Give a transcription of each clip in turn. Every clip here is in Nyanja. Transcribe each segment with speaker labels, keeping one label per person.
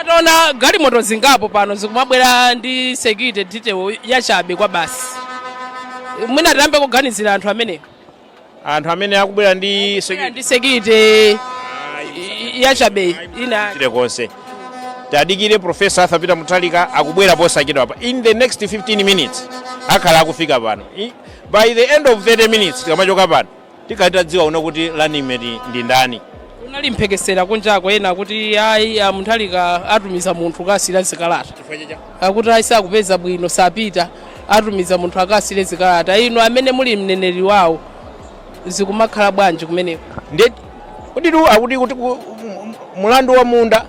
Speaker 1: Taona galimoto zingapo pano zikumabwera ndi security detail yachabe kwa basi. Mwina tiyambe kuganizira anthu amene anthu
Speaker 2: amene akubwera ndi bwera ndi security
Speaker 1: yachabe ina chile
Speaker 2: konse tadikire profesa arthur peter mutharika akubwera posachedwa apa in the next 15 minutes akhala akufika pano I- by the end of 30 minutes tikamachoka pano Tikhale tadziwa kuno kuti running mate ndi ndani. Kunali
Speaker 1: mphekesera kunjako ena akuti ayi a Mutharika atumiza munthu akasiye zikalata. Chifukwa chiyani? Akuti ayi sakupeza bwino sapita atumiza munthu akasiye zikalata. Inu amene muli mneneri wawo zikumakhala bwanji kumeneko? Ndiye
Speaker 2: kutitu akuti kuti ku- m- m- mulandu wa munda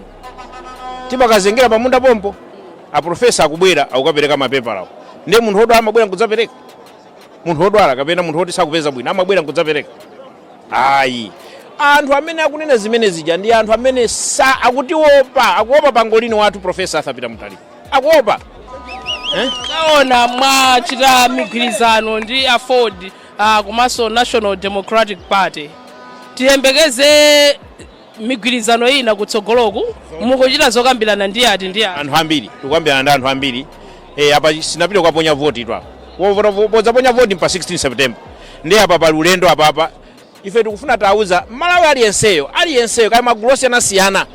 Speaker 2: timakazengera pa munda pompo a profesa akubwera akukapereka mapepalawo. Ndiye munthu wodwala amabwera nkudzapereka. munthu wodwala kapena munthu woti sakupeza bwino amabwera nkudzapereka ayi anthu amene akunena zimene zija ndi anthu amene sa akutiopa akuopa pangolini wathu profesa arthur peter mutharika akuopa
Speaker 1: eh? taona mwachita migwirizano ndi aford uh, komanso national democratic party tiyembekeze migwirizano ina kutsogoloku? Mukuchita zokambirana ndi ati ndi ati? anthu ambiri
Speaker 2: tikukambirana ndi anthu ambiri eh, apa sitinapite kukaponya votitu apa Wovota- vo- podzaponya voti ndi pa 16 september ndi apa pali ulendo apapa ife tikufuna tauza amalawi aliyenseyo aliyenseyo kaya magulu osiyanasiyana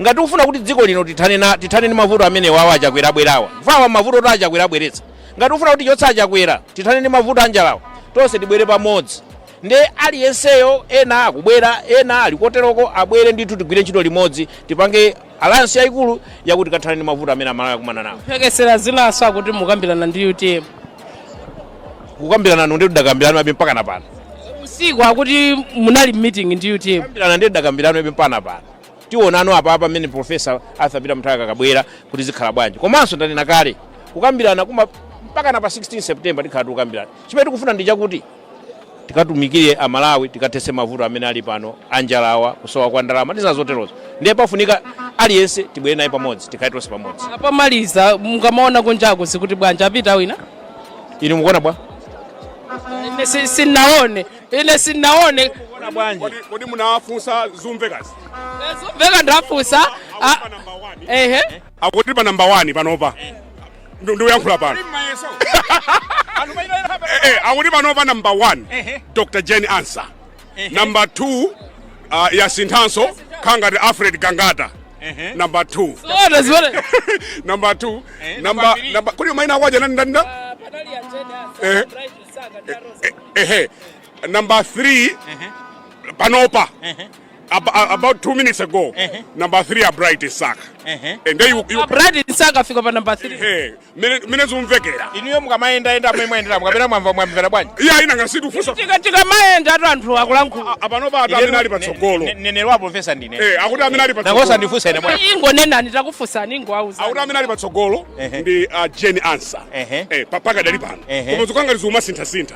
Speaker 2: ngati tikufuna kuti dziko lino tithane na- tithane ndi mavuto amene awa achakwera abwerawa awa mavuto oti achakwera abweretsa ngati tikufuna kuti tichotse achakwera tithane ndi mavuto anjalawa tonse tibwere pamodzi Nde aliyenseyo ena akubwera ena ali koteroko abwere ndithu tigwire ntchito limodzi tipange alliance yayikulu yakuti tikathane ndi mavuto amene amalawi akumana nawo. Mphekesera zinanso akuti
Speaker 1: mukukambirana ndi utm. Kukambirana
Speaker 2: nde tidakakambiranabe mpakana pano. Usiku
Speaker 1: akuti munali meeting ndi utm. Kukambirana nde
Speaker 2: tidakakambiranabe mpakana pano. Tionana apa pamene professor Arthur Peter Mutharika akabwere kuti zikhala bwanji. Komanso ndanena kale kukambiranaku mpakana pa 16 September tikhala tikukambirana. Chimene tikufuna ndi chakuti tikatumikire amalawi tikathese mavuto amene ali pano anjalawa kusowa kwa ndalama ndi zina zoterozo ndiye pafunika aliyense tibwere naye pamodzi tikhale tonse pamodzi pomaliza
Speaker 1: mukamaona kunjaku zikuti bwanji apita wina inu
Speaker 2: mukuona bwa
Speaker 1: ine si- sinaone ine sinaone
Speaker 3: Kodi- kodi munawafunsa zikumvekazi zikumveka
Speaker 1: ndafunsa Ah, ehe
Speaker 3: akuti pa namba 1 panopa ndikuyankhula pano eh, eh, akuti panopa number 1 dr jane ansah number 2 uh, yasinthanso kaya ngati alfred gangata number 2 number 2 eh, number number kuli maina kwaje nani nani ah, eh eh number 3 panopa ab- a- about two minutes ago Ehe. number three a bright msaka Ehe. and then you, you bright msaka afika
Speaker 1: pa namba 3 eh, mene mene zumvekera
Speaker 3: inuyo mukamayendayenda
Speaker 2: mmene mwayendera kapena mwamva mwamvera bwanji iya ine ngati sindifunsa
Speaker 3: tika tikamayenda
Speaker 1: tu anthu akulankhula panopa akuti amene
Speaker 3: ali patsogolo mneneri wa profesa
Speaker 2: ndine Eh, akuti amene ali
Speaker 3: nankhumwa patsogolo ndifunsa ine
Speaker 2: bwana ingonenani
Speaker 1: takufunsani ingowauza akuti amene ali patsogolo
Speaker 3: Ehe. ndi uh, jane ansah Ehe. eh, pa- pakadali pano Ehe. koma zikangati zikumasinthasintha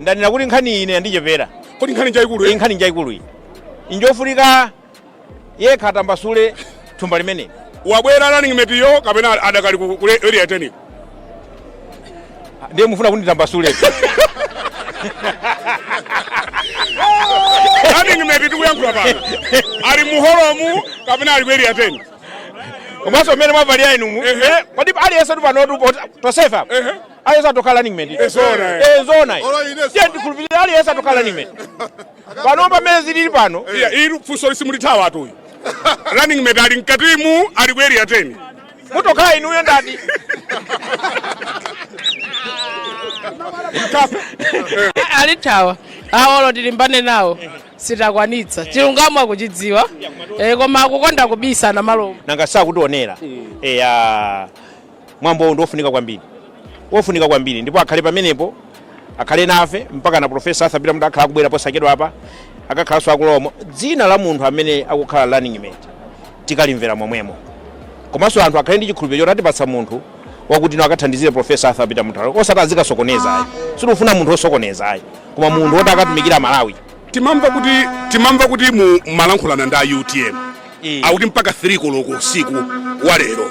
Speaker 2: ndanena kuti nkhani iyi ine yandichepera kodi nkhani njayikulu
Speaker 3: iyi nkhani njayikulu
Speaker 2: iyi njofunika yekha atambasule thumba limeneli wabwera running mate
Speaker 3: yo kapena adakali ku ku area 10 iko
Speaker 2: ndiye mufuna kuti
Speaker 3: nditambasule running mate tikuyankhula pano ali mu hall mu kapena ali ku area 10 komanso
Speaker 2: mmene mwavalira inumu kodi aliyense tu panotu tonsefe aliyense atokhala running mate ezona eh. ezona ndiye ndikhulupirira aliyense atokhala running mate pano pamene zilili pano iya ili funso
Speaker 3: simulithawa tu uyu running mate ali mkatimu ali ku area 10 mutokhala inuyo
Speaker 2: ndati
Speaker 1: alithawa awolo tilimbane nawo sitakwanitsa chilungamo akuchidziwa eh, koma akukonda kubisana namalomba nanga sakutionera
Speaker 2: eya mwambowu ndi wofunika kwambiri wofunika kwambiri ndipo akhale pamenepo akhale nafe mpakana profesa arthur peter mutharika akhala akubwera posachedwapa akakhalanso akuulula dzina la munthu amene akukhala running mate tikalimvera momwemo komanso anthu akhale ndi chikhulupiriro choti atipatsa munthu wakuti no akathandizire profesa arthur peter mutharika osati azikasokoneza ayi sitifuna munthu osokoneza ayi koma munthu woti akatumikire malawi timamva kuti
Speaker 3: timamva kuti mu malankhulana ndi a utm Eh. akuti mpaka 3 koloko usiku wa lero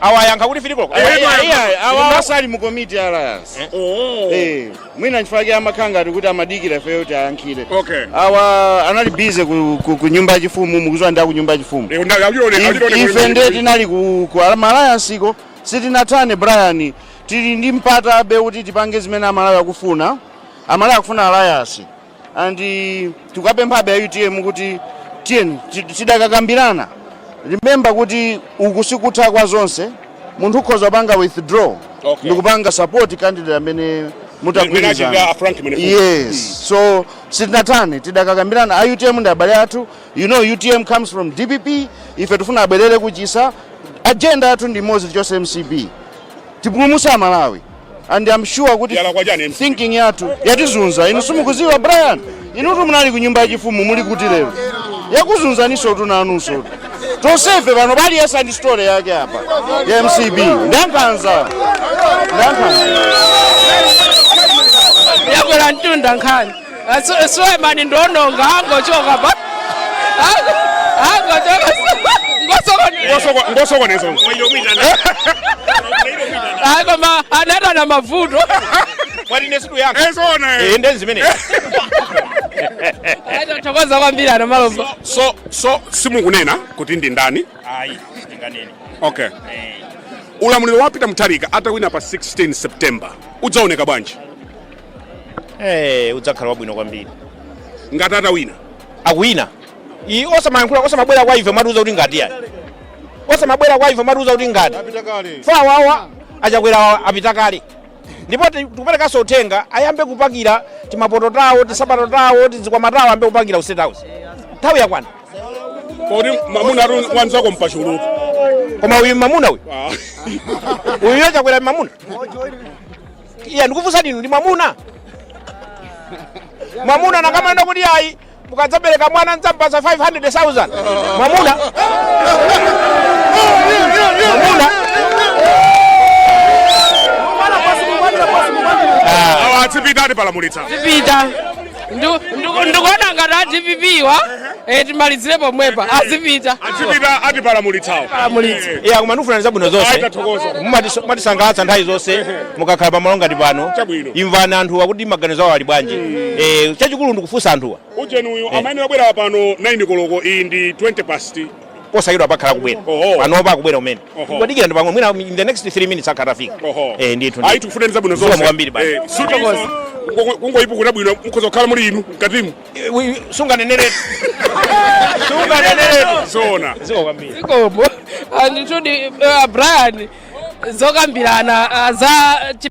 Speaker 3: awayankha kuti 3
Speaker 2: koloko Eyetu Iya, iya, ayankha. awa- Ndipo
Speaker 4: asali mu komiti ya alliance Oh. Eh, mwina nchifukwa chake amakhala ngati kuti amadikira ifeyo kuti ayankhire Okay. awa anali busy ku, ku, ku nyumba yachifumu mukuziwa ndi aku nyumba yachifumu Eh, ndaka, achione- If- achione ife kuti- ndiye tinali ku, ku alliance ko sitinathane brian tili ndi mpatabe kuti tipange zimene amalawi akufuna amalawi akufuna alliance and tikuwapemphabe a utm kuti tiyeni ti- tidakakambirana remember kuti uku sikutha kwa zonse munthu ukhoza kupanga withdraw Okay. ndikupanga support candidate amene Mene achitira mutagwirizana a Frank Mwenefumbo. yes so sitinathane tidakakambirana a utm ndi abale athu you know utm comes from dpp ife tifuna abwerere kuchisa agenda yathu ndi imodzi tichose mcp tipulumutse amalawi and I'm sure kuti Yalakwa chani MC? thinking yathu yatizunza inu simukuziwa brian inutu munali ku nyumba yachifumu muli kuti lero yakuzunzaniso tu nanunso tonsefe pano aliyense ali ndi story yake apa ya mcp ndankhanza ndankhanza
Speaker 1: yakwera mtunda nkhani sulemani ndi ononga angochoka pa
Speaker 3: angochoka
Speaker 1: ngosokoneza hayi koma anata na mavuto athokoza kwambiri ana malomba so
Speaker 3: so simukunena kuti ndi ndani ayi ndinganene
Speaker 2: okay
Speaker 3: ulamuliro wa peter mutharika atawina pa 16 september udzaoneka bwanji
Speaker 2: eh udzakhala wabwino kwambiri
Speaker 3: ngati atawina
Speaker 2: akuwina iyi osamayankhula osamabwera kwa ife kumatiuza kuti ngati yani osamabwera kwa ife kumatiuza kuti ngati awawa achakwera apita kale ndipo ti- tikuperekanso uthenga ayambe kupakira timapoto tawo tisapato tawo tizikwama tawo ayambe kupakira ku state house nthawi yakwana
Speaker 3: kodi mwamuna atu wanzako mpachulu koma uyu
Speaker 2: mamuna uyu uyu achakwera mamuna iya ndikufunsani inu ndi mwamuna mwamuna akamanena kuti ayi mukadzabereka mwana ndidzampatsa 500000 mwamuna mwamuna
Speaker 3: awa azipita atipalamulitsa pita
Speaker 1: ndikuona ngati a dpp wa eh, timalizire pomwepa azipita azipita atipalamulitsawo
Speaker 3: ya
Speaker 2: koma ndikufunirani zabwino zonse mumatisangalatsa nthawi zonse mukakhala pamalo ngati pano imvani anthuwa kuti maganizo awo ali bwanji mm. eh, chachikulu ndikufunsa anthuwa ujeni uyu eh. amayenera
Speaker 3: kubwera pano 9 koloko iyi ndi 20 past posayidwa
Speaker 2: pakhala akubwera Oho. panopa akubwera umene Oho. kudikira ndi pang'ono mwina in the next 3 minutes akhala afika Oho. eh ndithu ayi tikufunirani zabwino Zikomo
Speaker 3: zonse kwambiri basi. Eh,
Speaker 2: Zikomo. kungo-
Speaker 3: kungoyipukuta bwino mukhoza kukhala muli inu mkatimu sunganenere sunganeneretu zoona zikomo
Speaker 1: kwambiri zikomo nditudi uh, brian zokambirana ah, za chi-